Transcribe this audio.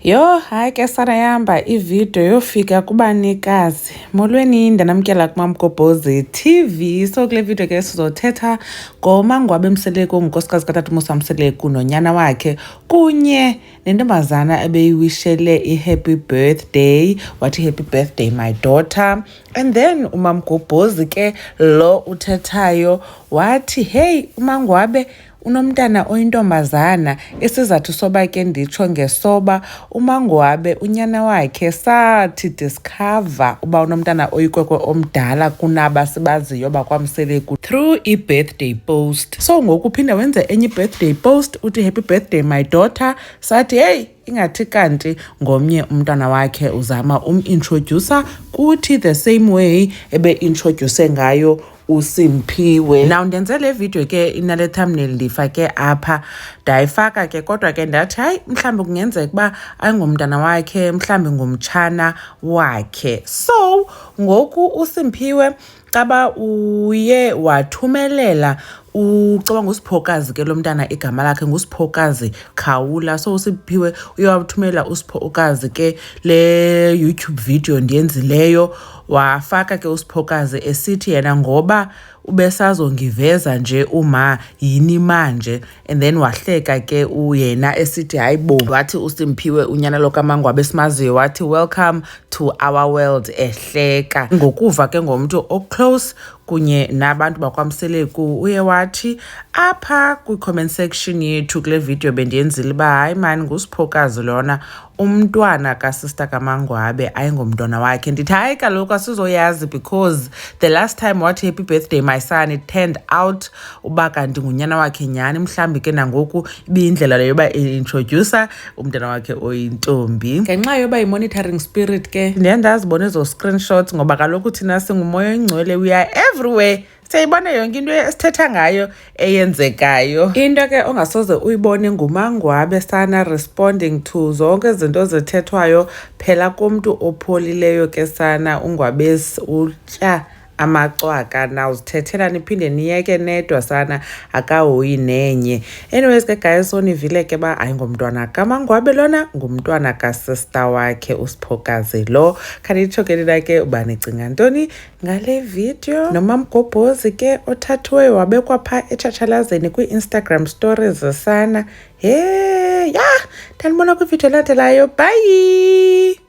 Yho, hayi ke sarayamba ividiyo yofika kubanikazi. Molweni, ndanamkela kuMamgobhozi TV. So kule vidiyo ke sizothetha ngomangwabe Mseleku ongunkosikazi katata uMusa Mseleku nonyana wakhe kunye nentombazana ebeyiwishele i-happy birthday wathi happy birthday my daughter and then umamgobhozi ke lo uthethayo wathi heyi umangwabe Unomntana oyintombazana, isizathu soba ke nditsho ngesoba uMangoabe unyana wakhe sathi discover uba unomntana oyikwekwe omdala kunaba sibaziyo bakwamseleku through i-birthday post. So ngoku uphinde wenze enye i-birthday post uthi happy birthday my daughter sathi heyi ingathi kanti ngomnye umntwana wakhe uzama umintroducer kuthi the same way ebe-introduce ngayo usimphiwe now ndenze le video ke inale thumbnail ndiyifake apha ndayifaka ke kodwa ke ndathi hayi mhlawumbi kungenzeka ukuba ayingumntana wakhe mhlawumbi ngumtshana wakhe so ngoku usimphiwe caba uye wathumelela ucaba ngusiphokazi ke lo mntana igama lakhe ngusiphokazi khawula so usiphiwe uye wathumelela usiphokazi ke le youtube video ndiyenzileyo wafaka ke usiphokazi esithi yena ngoba ubesazongiveza nje uma yini manje and then wahleka ke uyena esithi hayi bo wathi usimphiwe unyana lokamangwabe esimaziyo wathi welcome to our world ehleka ngokuva ke ngomntu oclose kunye nabantu bakwamseleku uye wathi apha kwi-comment section yethu kule video bendiyenzile uba hayi mani ngusiphokazi lona umntwana kasista kamangwabe ayingomntwana wakhe ndithi hayi kaloku asizoyazi because the last time wathi happy birthday my son it turned out uba kanti ngunyana wakhe nyhani mhlawumbi ke nangoku ibiyindlela leyo yoba introducer umntana wakhe oyintombi ngenxa yoba yi-monitoring spirit ke ndiye ndazibona ezo screenshots ngoba kaloku thina singumoya oyingcwele we are everywhere siyayibona yonke into esithetha ngayo eyenzekayo into ke ongasoze uyibone ngumangwabe sana responding to zonke izinto zithethwayo phela kumntu opholileyo ke sana ungwabesi utya amacwaka na uzithethela niphinde niyeke nedwa sana akahoyi nenye anyways ke guys sonivile ke ba hayi ngomntwana kamangwabe lona ngumntwana kasista wakhe usiphokazi lo khanditsho ke nina ke uba nicinga ntoni ngale video nomamgobhozi ke othathiweyo wabekwa phaa etshatshalazeni kwii-instagram stories zesana he yah ndandibona kwividiyo elandelayo bhayi